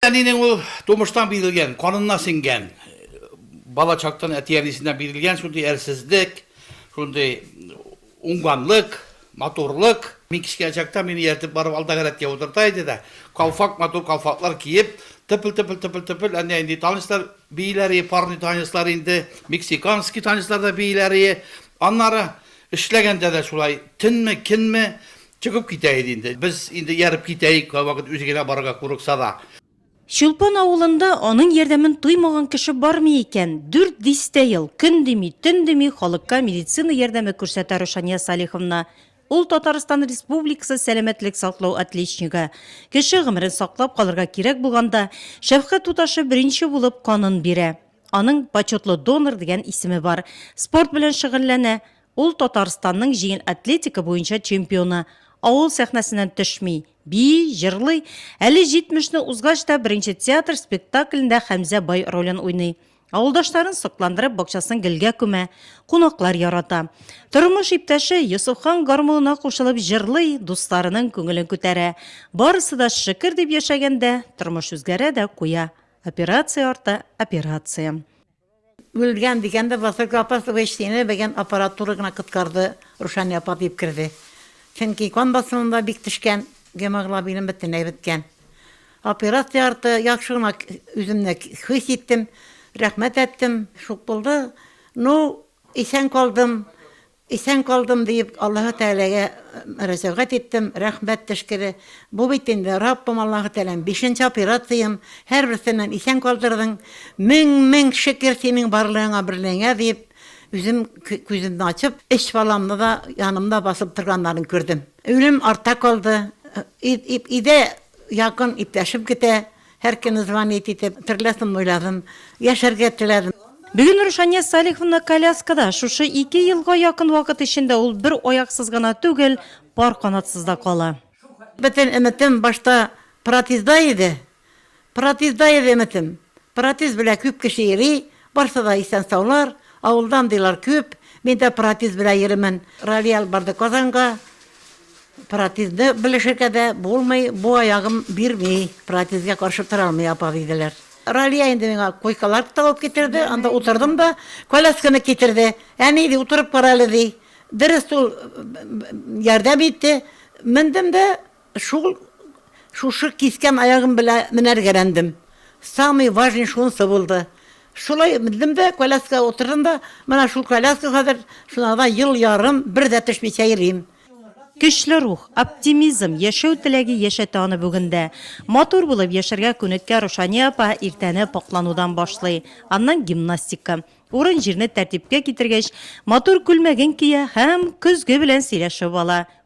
Әнинең ул тумыштан бирелгән, канына сеңгән, бала чактан әти-әнисеннән бирелгән шундый әрсезлек, шундый уңганлык, матурлык. Мин кечкенә чакта мине ияртеп барып алдагы рәткә утырта иде дә, калфак, матур калфаклар киеп, тыпыл-тыпыл, тыпыл-тыпыл, әнә инде танецлар бииләр ие, парный танецлар инде, мексиканский танецлар да бииләр ие. Аннары эшләгәндә дә шулай, төнме, көнме, Чыгып китә иде инде. Без инде ияреп китәек, кайвакыт үзе генә барырга курыкса да. Чулпан авылында аның ярдәмен тоймаган кеше бармый икән. Дүрт дистә ел, көн дими, төн дими халыкка медицина ярдәме күрсәтә Рушания Салиховна. Ул Татарстан Республикасы сәламәтлек саклау отличнигы. Кеше гомерен саклап калырга кирәк булганда, шәфкать туташы беренче булып канын бирә. Аның Почетлы донор дигән исеме бар. Спорт белән шөгыльләнә. Ул Татарстанның җиңел атлетика буенча чемпионы. Авыл сәхнәсеннән төшми, бии, җырлый. Әле 70 не узгач та беренче театр спектаклендә Хәмзә бай ролен уйный. Авылдашларын сокландырып, бакчасын гелгә күмә. Кунаклар ярата. Тормыш иптәше Йосыфхан гармунына кушылып җырлый, дусларының күңелен күтәрә. Барысы да шөкер дип яшәгәндә, тормыш үзгәрә дә куя. Операция арты операция. Үлгән дигән дә Василка апа субеч сине бегэн аппаратура гына коткарды Рушания апа диеп керде Чөнки кан басымым да бик төшкән гемоглобиным бөтенләй беткән Операция арты яхшы гына үземне хис иттем рәхмәт әттем шук булды Ну исән калдым Исән калдым, диеп, Аллаһы Тәгаләгә мөрәҗәгать иттем, рәхмәт төшкере. Бу бит инде, Раббым Аллаһы Тәгаләм, бишенче операциям, һәрберсеннән исән калдырдың, мең-мең шөкер Синең барлыгыңа, берлегеңә, диеп, үзем күземне ачып, өч баламны да янымда басып торганнарын күрдем. Үлем артта калды, өйдә якын иптәшем көтә. Һәркемне звонить итеп, терләсен уйладым, яшәргә теләдем. Бүген Рушания Салиховна коляскада. Шушы ике елга якын вакыт эчендә ул бер аяксыз гына түгел, пар канатсыз да кала. Бөтен өметем башта протезда иде. Протезда иде өметем. Протез белән күп кеше йөри, Барсы да исән-саулар, авылдан дилар күп, мин дә протез белән йөримен. Ралли алып барды Казанга, протезны белешергә дә булмый, бу аягым бирми, протезгә каршы тора алмый, апа, диделәр. Ралия инде миңа койкалар табып китерде, анда утырдым да, колясканы китерде. Әни, ди, утырып кара әле, ди. Дөрес, ул ярдәм итте. Мендем дә, Шул, шушы кискән аягым белә менәргәләндем. Самый важный шунсы булды. Шулай мендем дә, коляскага утырдым да, менә шул коляска хәзер, шунада ел ярым бер дә төшмичә йөрим. Көчле рух, оптимизм, яшәү теләге яшәтә аны бүген дә. Матур булып яшәргә күнеккән Рушания апа иртәне пакъланудан башлый, аннан гимнастика. Урын-җирне тәртипкә китергәч, матур күлмәген кия һәм көзге белән сөйләшеп ала.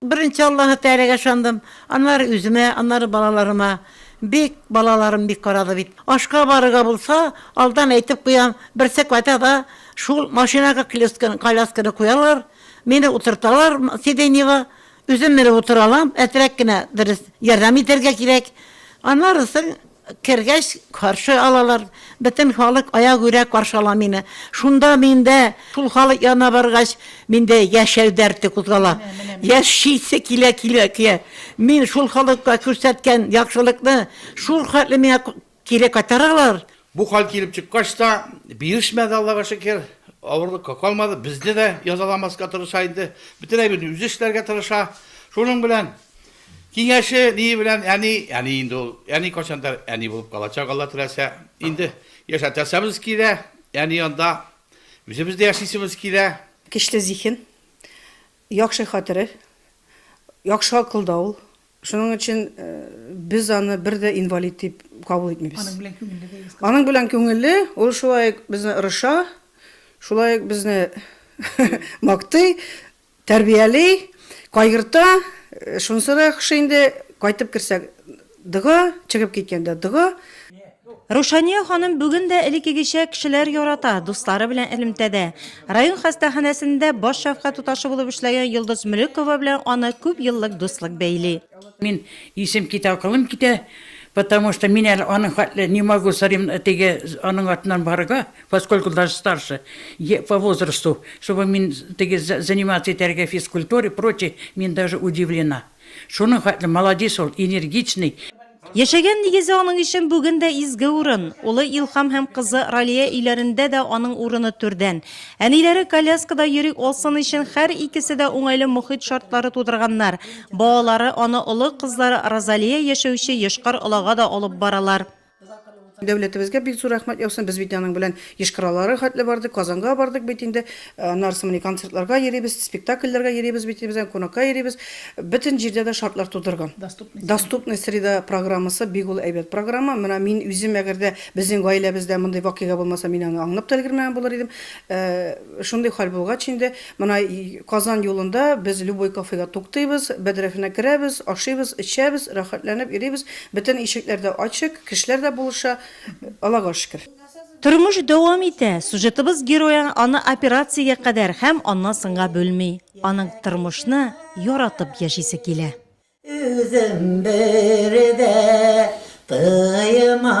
Беренче Аллаһы Тәгаләгә ышандым, аннары үземә, аннары балаларыма. Бик, балаларым бик карады бит. Ашка барырга булса, алдан әйтеп куям, берсе кайта да, шул машинага клеска, колясканы куялар, мине утырталар сиденьега, үзем менеп утыра алам, әтрәк кенә дөрес ярдәм итәргә кирәк, аннары соң. Кергәч, каршы алалар. Бөтен халык аягүрә каршы ала мине. Шунда миндә, шул халык янына баргач, миндә яшәү дәрте кузгала. Яшисе килә көя. Мин шул халыкка күрсәткән яхшылыкны шул хәтле миңа кире кайтаралар. Бу хәл килеп чыккач та, бирешмәде, Аллага шөкер. Авырлыкка калмады. Безне дә язаламаска тырыша инде. Бөтен әйберне үзе эшләргә тырыша. Шуның белән Киңәше ние белән әни, әни инде ул, әни кайчандыр әни булып калачак, Алла теләсә. Инде яшәтәсәбез килә, әни янда үзебез дә яшисебез килә. Кечле зиһен, яхшы хатыре, яхшы акылда ул. Шуның өчен без аны бер дә инвалид дип кабул итмибез. Аның белән күңелле булыгыз кызым. Аның белән күңелле, ул шулай ук безне орыша, шулай ук безне мактый, Тәрбияли, кайгырта, шунысы да яхшы инде, кайтып керсә, дога, чыгып киткәндә, дога. Рушания ханым бүген дә элеккегечә кешеләр ярата, дуслары белән элемтәдә. Район хастаханәсендә баш шәфкать туташы булып эшләгән Йолдыз Мөлекова белән аны күп еллык дуслык бәйли. Мин исем китә, акылым китә, потому что мин әле аның хәтле не могу современно теге аның артыннан барырга. Поскольку даже старше по возрасту, чтобы мин теге заниматься итәргә физкультура и прочее, мин даже удивлена. Шуның хәтле молодец ул, энергичный. Яшәгән нигезе аның өчен бүген дә изге урын. Улы Илһам һәм кызы Ралия өйләрендә дә аның урыны түрдән. Әниләре коляскада йөри алсын өчен һәр икесе дә уңайлы мохит шартлары тудырганнар. Балалары аны олы кызлары Розалия яшәүче Йошкар-Олага да алып баралар. Дәүләтебезгә бик зур рәхмәт яусын, без бит аның белән Йошкар-Олага хәтле бардык, Казанга бардык бит инде, аннарысы менә концертларга йөрибез, спектакльләргә йөрибез бит, без аны кунакка йөрибез, бөтен җирдә дә шартлар тудырган. Доступная среда программасы бик ул әйбәт программа, менә мин үзем әгәр дә безнең гаиләбездә мондый вакыйга булмаса, мин аны аңлап та өлгермәгән булыр идем. Шундый хәл булгач инде, Менә Казан юлында без любой кафега туктыйбыз, бәдрәфенә керәбез, ашыйбыз, эчәбез, рәхәтләнеп йөрибез, бөтен ишекләр дә ачык, кешеләр дә булыша, Аллага шөкер. Тормыш дәвам итә, сюжетыбыз герое аны операциягә кадәр һәм аннан соңга бүлми, аның тормышны яратып яшисе килә. Үзем бер дә тыймадым.